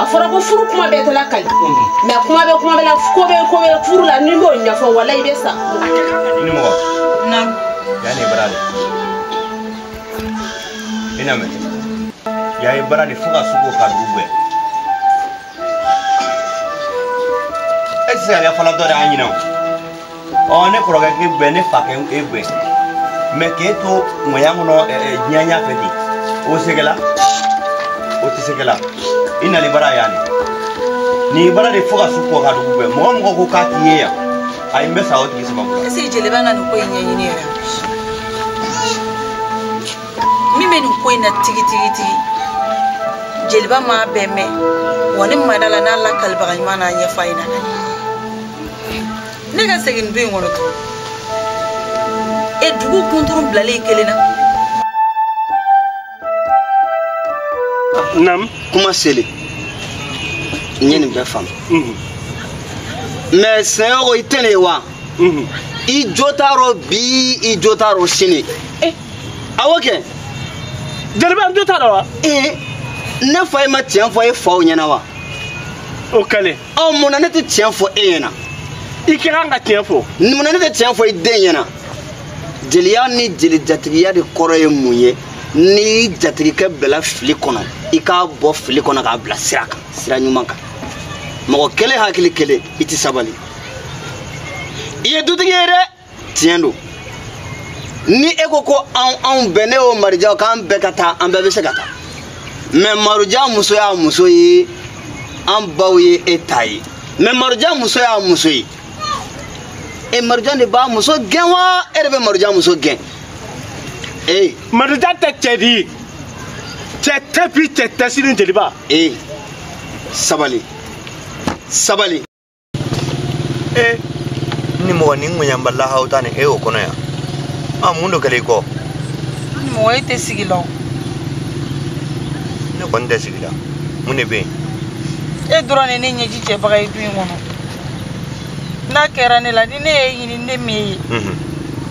a fɔra ko furu kuma bɛɛ tɛla ka ɲi mɛ kuma bɛ kuma bɛ la ko bɛ ko bɛ furu la ni b'o ɲɛfɔ wala i bɛ sa i ni mɔgɔ yan ne baara de i na mɛ yan ye baara de fo ka su ko ka dugu gbɛ e tɛ se ka kɛ fana dɔ de y'a ɲinɛ o ɔ ne kɔrɔkɛ k'e bɛ ne fa kɛ e bɛ mɛ k'e to jɔnya kɔnɔ diɲɛ ɲɛ fɛ ten o sɛgɛla o tɛ sɛgɛla i nali baara yan de nin baara de fo ka su ko ka dugu gbɛ mɔgɔ mɔgɔ ko k'a t'i ye yan ayi n bɛ sa o tigi sababu la. ɛseke jeliba na nin ko in ɲɛɲini yɛrɛ min bɛ nin ko in na tigitigitigi jeliba m'a bɛɛ mɛn wa ne ma da a la n'a lakalibaga ɲuman n'a ɲɛfɔ a ye na ne ka segin du in kɔnɔ tun e dugu kunturu bilalen kelen na namu kuma seli n ye nin bɛɛ faamu mhm. mɛ sɛnɛyɔgɔ i tɛ ne ye wa mhm. i jo t'a rɔ bi i jo t'a rɔ sini eh. awɔ kɛ jeliba n jo t'a rɔ wa eh, ne faw ma tiɲɛ fɔ e faw ɲɛna wa o kɛlen ɔ mun na ne tɛ tiɲɛ fɔ e ɲɛna i ka kan ka tiɲɛ fɔ mun na ne tɛ tiɲɛ fɔ i den ɲɛna jeliya ni jeli jatigiya de kɔrɔ ye mun ye n'i jatigikɛ bɛla fili kɔnɔ i k'a bɔ fili kɔnɔ k'a bila sira kan sira ɲuman kan mɔgɔ kelen hakili kelen i tɛ sabali i ye dutigi ye dɛ tiɲɛ don ni e ko ko anw anw bɛɛ ne wo maroja wo k'an bɛɛ ka taa an bɛɛ bɛ se ka taa mɛ maroja muso y'a muso ye an baw ye e ta ye mɛ maroja muso y'a muso ye e maroja de b'a muso gɛn wa e de bɛ maroja muso gɛn ee maroja tɛ cɛ di cɛ tɛ bi cɛ tɛ sini jeliba ee sabali sabali ee ni mɔgɔ ni ŋuɲanbalila aw ta ni e y'o kɔnɔ yan a mun don kɛlɛ i ko mɔgɔ e tɛ sigi la o ne kɔni tɛ sigi la mun de bɛ yen e dɔrɔn de ne ɲɛji cɛbaga ye du in kɔnɔ n'a kɛra ne la ni ne ye ɲini ne min ye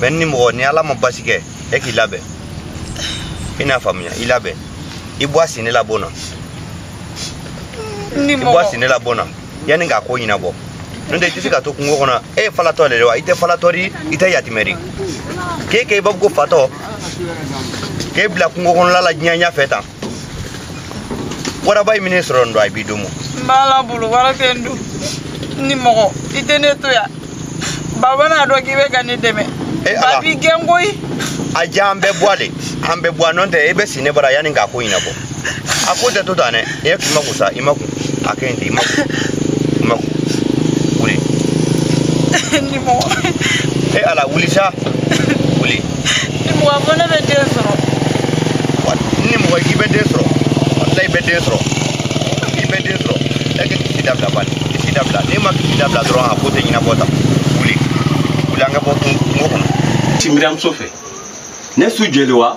mɛ ni mɔgɔ ni ala ma baasi kɛ e k'i labɛn i n'a faamuya i labɛn i bɔ a sini la bon na i bɔ a sini la bon na yanni k'a ko ɲɛnabɔ n'o tɛ i tɛ se ka to kungo kɔnɔ e ye falatɔ de ye wa i tɛ falatɔ di i tɛ yatimɛ di k'e kɛ i b'a fɔ ko fatɔ k'e bila kungo kɔnɔla la diɲɛ ɲɛfɛ tan waraba man'i sɔrɔ nin don a b'i dumu n b'Ala bolo wara tɛ n dun nimɔgɔ i tɛ ne to yan baba n'a dɔn k'i bɛ ka ne dɛmɛ Eh, ba ala. b'i gɛn koyi a diya an bɛɛ bɔ a de an bɛɛ bɔ a nɔntɛ e bɛ si ne bara yanni k'a ko ɲɛnabɔ a ko tɛ to tan dɛ e k'i makun sa i makun a kɛ yen ten i ma i ma wuli. nimɔgɔ. e ala wuli sa wuli. nimɔgɔ fɔ ne bɛ den sɔrɔ. nimɔgɔ k'i bɛ den sɔrɔ walayi i bɛ den sɔrɔ i bɛ den sɔrɔ e k'i kasi dabila bani kasi dabila n'i ma kasi dabila dɔrɔn a ko tɛ ɲɛnabɔ sa wuli wuli an ka bɔ kungo kɔnɔ. ti miriamuso fɛ ne su jeli wa.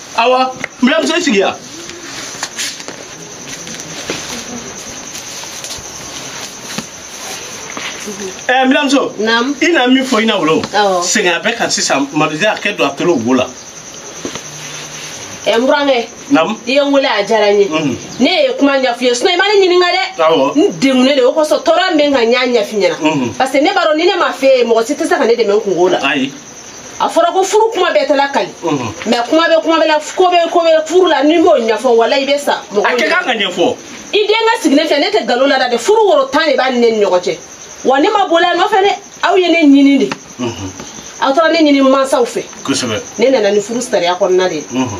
awa n buranmuso sigi yan ɛɛ n buranmuso Naamu. i na min fɔ i na wolo Awɔ. sɛgɛn a bɛ kan sisan mabidi a kɛ don a tolo wo la ɛ n burankɛ naamu i ye n wele a diyara n ye Mhm. ne ye kuma ɲaf'i ye sinon i ma ne ɲininka dɛ Awɔ. n degunnen de o kosɔn tɔɔrɔ min bɛ n kan n y'a ɲaf'i ɲɛna Mhm. parce que ne b'a dɔn ni ne m'a f'i ye mɔgɔ si tɛ se ka ne dɛmɛ n kunko la ayi a fɔra ko furu kuma bɛɛ tɛ lakali mhm. mais kuma bɛ kuma bɛ la ko bɛ ko bɛ furu la n'i m'o ɲɛfɔ walayi i bɛ sa mɔgɔ a kɛ kan ka ɲɛfɔ i denkɛ sigilen filɛ ne tɛ nkalon la dɛ furu woro tan de b'a ni ne ni ɲɔgɔn cɛ wa ne ma bol'a nɔfɛ dɛ aw ye ne ɲini de mhm. aw taara ne ɲini mansaw fɛ kosɛbɛ ne nana ni furu sariya kɔnɔna de ye mhm.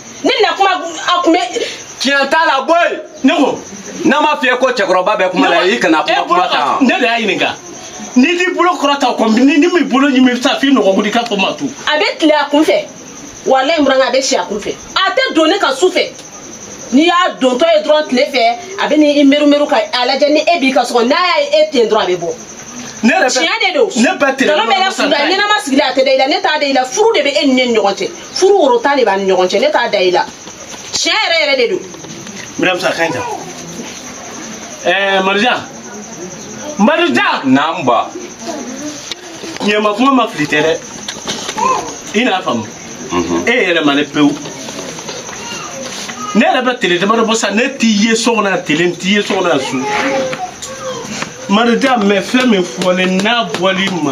ne na kuma a kun bɛ tiɲɛ t'a la bɔ yen ne ko n'a ma fiyɛ ko cɛkɔrɔba bɛ kuma la i kana kuma kuma kan ne de y'a ɲininka n'i t'i bolo kɔrɔta kɔni ni n m'i bolo ɲimi bɛ taa f'i nɔnkɔnkun i k'a fɔ ma tu a bɛ tilen a kun fɛ walayi n burankɛ a bɛ si a kun fɛ a tɛ don ne kan su fɛ n'i y'a dontɔ ye dɔrɔn tile fɛ a bɛ n'i merimeru ka a lajɛ ni e b'i ka so kɔnɔ n'a y'a ye e ten dɔrɔn a bɛ bɔ ne yɛrɛ bɛ tiɲɛ de don ne bɛ tile nkalon bɛ ne kun da ɲɛnama sigilen a tɛ da i la ne t'a da i la furu de bɛ e ni ne ni ɲɔgɔn cɛ furu woro tan de b'a ni ɲɔgɔn cɛ ne t'a da i la tiɲɛ yɛrɛ yɛrɛ de don mɛdam sa kan ta ɛɛ marijan marijan naam ba ɲɛma kuma ma fili tɛ dɛ i n'a faamu e yɛrɛ ma ne pewu ne yɛrɛ bɛ tele damadɔ bɔ sa ne t'i ye so kɔnɔ yan tele n t'i ye so kɔnɔ yan su marijan mɛ fɛn min fɔ ne n'a bɔli ma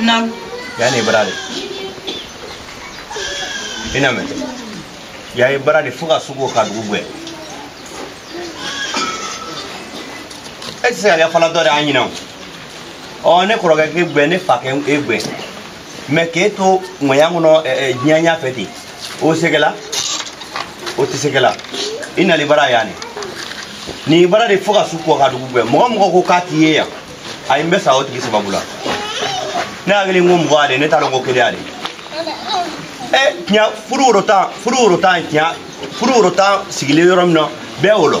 Naam. yani barade i na mun y'a ye barade fo ka sugu ka dugu gɛn e tɛ se ka kɛ falatɔ de an ɲinɛ o ɔ ne kɔrɔkɛ k'e gɛn ne fa k'e gɛn mais k'e to nɔya kɔnɔ jɛya fɛ ten o sɛgɛla o tɛ sɛgɛla i nali bara y'a ne nin bara de fo ka su ko ka dugu jɛ mɔgɔ mɔgɔ ko k'a t'i ye yan a ye n bɛ sa o tigi sababu la ne hakili n ko mɔgɔ ale ne t'a dɔn ko kelen ale ɛ tiɲɛ furu woro tan furu woro tan tiɲɛ furu woro tan sigilen yɔrɔ min na bɛɛ o lɔ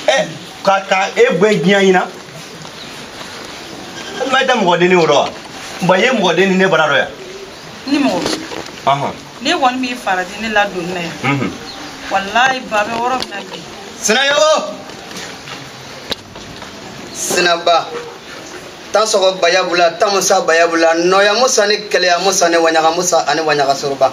ɛ ka ka e bɛɛ diɲɛ ɲina i tɛ mɔgɔ denni wɔrɔ wa bɔn i ye mɔgɔ denni ne bara dɔ yan ni mɔgɔ ne kɔni b'i farati ne ladonni na yan walayi ba bɛ wɔrɔ min na bi sinayogo sinaba tan sɔgɔ bayabula tan musa bayabula nɔya musa ni kɛlɛya musa ni waɲaga musa ani waɲaga soroba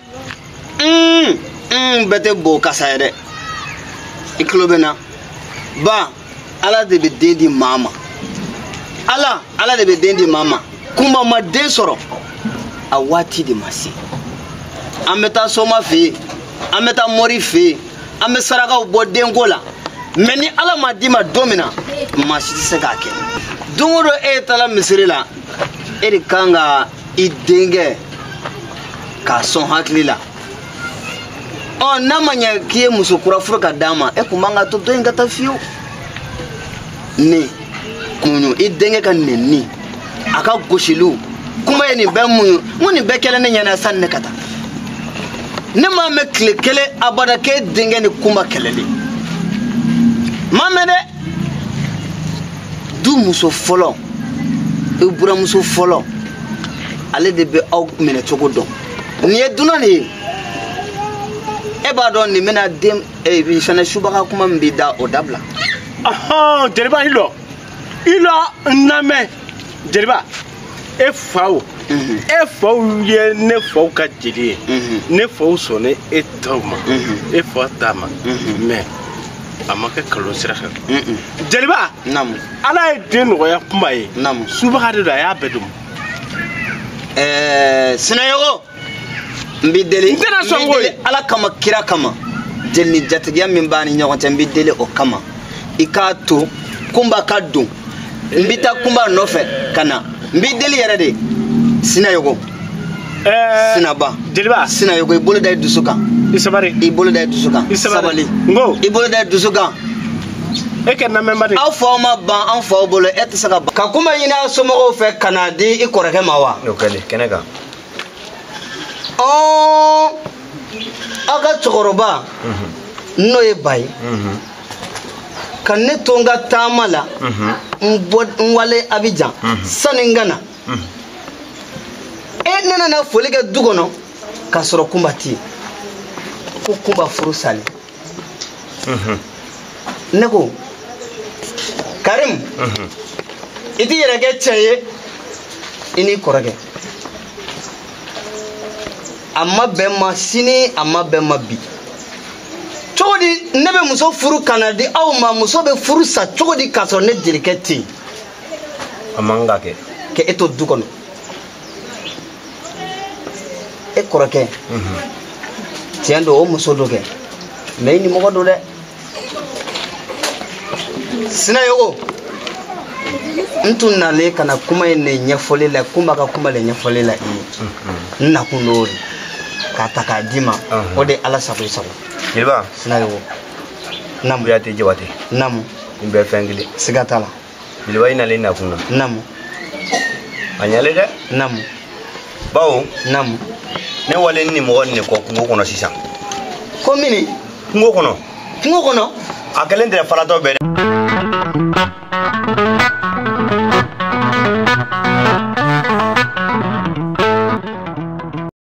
n n bɛɛ tɛ bo kasa ye dɛ i tulo bɛ na ba ala de bɛ den di maa ma ala ala de bɛ den di maa ma kunba ma den sɔrɔ a waati de ma se an bɛ taa soma fɛ yen an bɛ taa mɔri fɛ yen an bɛ sarakaw bɔ denko la mais ni ala ma d'i ma don min na maa si tɛ se k'a kɛ don o don e taara misiri la e de kan ka i denkɛ k'a sɔn hakili la ɔ n'a ma ɲɛ k'i ye muso kura furu ka d'a ma e kunba ka to dɔ in ka taa fiyewu nin kunɲu i denkɛ ka nenni a ka gosiliw kunba ye nin bɛɛ muɲu n ko nin bɛɛ kɛlen ne ɲɛna sanni ne ka taa ne m'a mɛn tile kelen abada k'e denkɛ ni kunba kɛlɛlen m'a mɛn dɛ du muso fɔlɔ i buramuso fɔlɔ ale de bɛ aw minɛ cogo dɔn nin ye dunan de ye e b'a dɔn nin bɛna den faga subaga kuma min b'i da o dabila jeliba i lɔ i lɔ n lamɛn jeliba e faw mhm. e faw ye ne faw ka jeli ye mhm. ne faw sɔnna e taw ma mhm. e fa ta ma mais a ma kɛ nkalon sira fɛ jeliba ala ye den nɔgɔya kunba ye subaga de don a y'a bɛɛ dɔn sinayogo n b'i deli n tɛna sɔn ko ye ala kama kira kama jeli ni jatigiya min b'an ni ɲɔgɔn cɛ n b'i deli o kama i k'a to kunba ka don n bɛ taa kunba nɔfɛ ka na n b'i deli yɛrɛ de sinayogo eh, sinaba jeliba sinayogo i bolo da i dusu kan i sabari i bolo da i dusu kan sabari n ko i bolo da i dusu kan e kɛ namɛnba de aw faw ma ban an faw bolo e tɛ se ka ban ka kunba ɲini an somɔgɔw fɛ ka n'a di i kɔrɔkɛ ma wa o kɛlen kɛnɛ kan ɔn aw ka cɛkɔrɔba n'o ye ba ye ka ne to n ka taama la n bɔ n walen abijan sani n ka na e ne nana foli kɛ du kɔnɔ k'a sɔrɔ kunba tɛ yen ko kunba furu salen ne ko karimu i t'i yɛrɛ kɛ cɛ ye i n'i kɔrɔkɛ a ma bɛn ma sini a ma bɛn ma bi cogo di ne bɛ muso furu ka na di aw ma muso bɛ furu sa cogo di k'a sɔrɔ ne jelikɛ tɛ yen a man ka kɛ ka e to du kɔnɔ e kɔrɔkɛ tiɲɛ don o muso don kɛ mɛ i nimɔgɔ don dɛ sinayogo n tun nalen ka na kuma in ne ɲɛfɔli la kunba ka kuma le ɲɛfɔli la i ye n nakun dɔn o de k'a ta k'a d'i ma o de ala sago i sago jeliba sinayogo namu yate jawate namu n bɛ fɛn kelen siga t'a la jeliba i nalen nakun na namu a ɲalen dɛ namu bawo namu ne walen nimɔgɔ nin de kɔ kungo kɔnɔ sisan komi ni kungo kɔnɔ kungo kɔnɔ a kɛlen tɛ faratɔ bɛɛ dɛ